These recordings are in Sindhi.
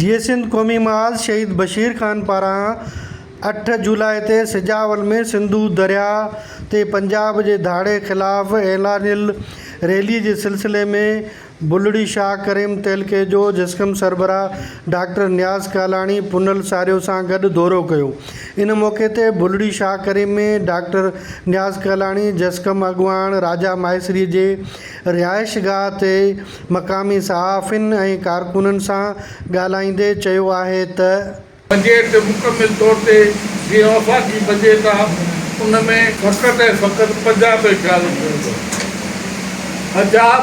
جيئي سنڌ قومي محاذ شهيد بشير خان پاران اٺ جولاء تي سجاول ۾ سنڌو درياء تي پنجاب جي ڌاڙي خلاف اعلانيل ريلي جي سلسلي ۾ بلڙي شاهه ڪريم تعلقي جو جسقم سربراهه ڊاڪٽر نياز ڪالاڻي پنهل ساريو سان گڏ دورو ڪيو ان موقعي تي بلڙي شاهه ڪريم ۾ ڊاڪٽر نياز ڪالاڻي جسقم اڳواڻ راجا ماهيسري جي رهائش گاهه تي مقامي صحافين ۽ ڪارڪنن سان ڳالهائيندي چيو آهي ته. بجيٽ مڪمل طور تي جيئن آفاقي بجيٽ آ ان ۾ فقط ۽ فقط پنجاب جو خيال رکيو ويندو آ حجاب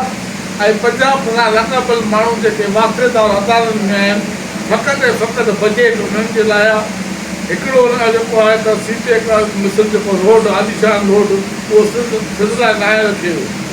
۽ پنجاب سان لاڳاپيل ماڻهو جيڪي واقعدار عدالن ۾ آهن فقط ۽ فقط بجيٽ انهن جي لاء آ هڪڙو ان جو جيڪو آهي ته سي پيڪ مصر جيڪو روڊ عاليشان روڊ اهو سنڌ سنڌ لاء ناهي رکيو ويو.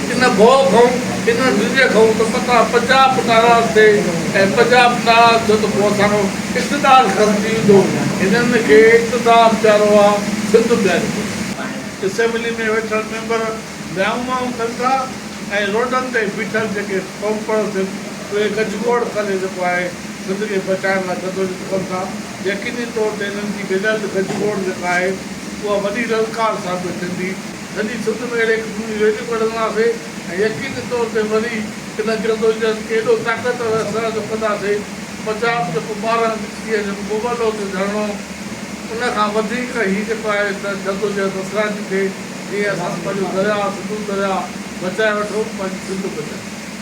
ان ڀوء کؤن، ان ڊڄ کؤن ته متان پنجاب به ناراض ٿئي ۽ پنجاب ناراض ٿيو ته پوء اسانو اقتدار ختم ٿي ويندو. هنن کي اقتدار پيارو آ، سنڌ پياري ڪونهي. اسيمبلي ۾ ويٺل ميمبر ميائون مائون ڪن ٿا ۽ روڊن تي بيٺل جيڪي قوم پرست آهن اهي ڳجهه گوڙ ڪري جيڪو آهي سنڌ کي بچائڻ لاء جدوجھد ڪن ٿا. يقيني طور تي هنن جي گڏيل ڳجهه گوڙ جيڪا آهي اها وڏي للڪار ثابت ٿيندي. سڄي سنڌ ۾ اهڙي قسم جون ريليون ڪڍنداسي ۽ يقيني طور تي وري ان جدوجهد کي ايڏو طاقتور ۽ سهڻو ڪنداسي پنجاب جيڪو ٻارهن هندي سيء جو مبلو ٿيو ڌرڻو ان کان وڌيڪ هي جيڪو آهي ته جدوجهد اثرائتي ٿئي جيئن اسان پنهنجو درياهه سنڌو درياهه بچائي وٺون پنهنجي سنڌ بچائي